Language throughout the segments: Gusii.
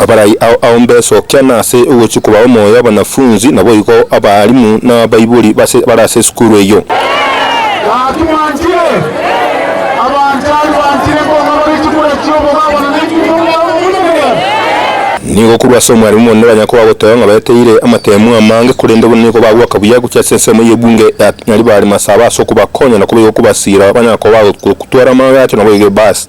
Abarai ao ao mbesokia nase ogochia kobao omoyo abanafunzi, naboigo abaalimu na abaibori base bare ase esukuru eyio. Gaki mwanchire, abanchani banchire, nkong'abarie chikura chi'obobaba na nechi chi'omogabo omonene. Nigo korwa ase omwarimu omonene banya koba goteba ng'a baeteire amateemwa amange, korende buna nigo bagoaka buya gochia ase ensemo y'ebunge ya Nyari bare masaba ase okobakonya na koba igo kobasiira banya koba gotwara amagacho naboigo ebaasi.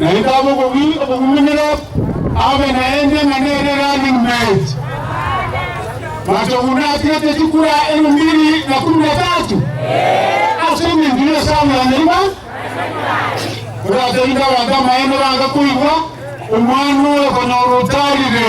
Naende abe obogima obogumenero, abe naende ng'a nere running mate. Machogu natigete chikura elfu mbiri na kumi na tatu ase engencho y'esamu ya nyarima. Oraterinde abanto amaene bange koigwa omwando oyo okonyora otarire.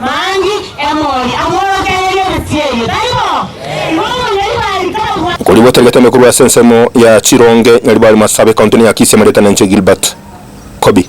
Mangi, Emori, amworokererie emesie eyio, tari bo? Igo omonyori bwa Rikabu bwa. Okori gwatarigetwe ime korwa ase ensemo ya chironge Nyaribari Marsabit, County-ni ya Kisii, amarieta nenche Gilbert Kobi.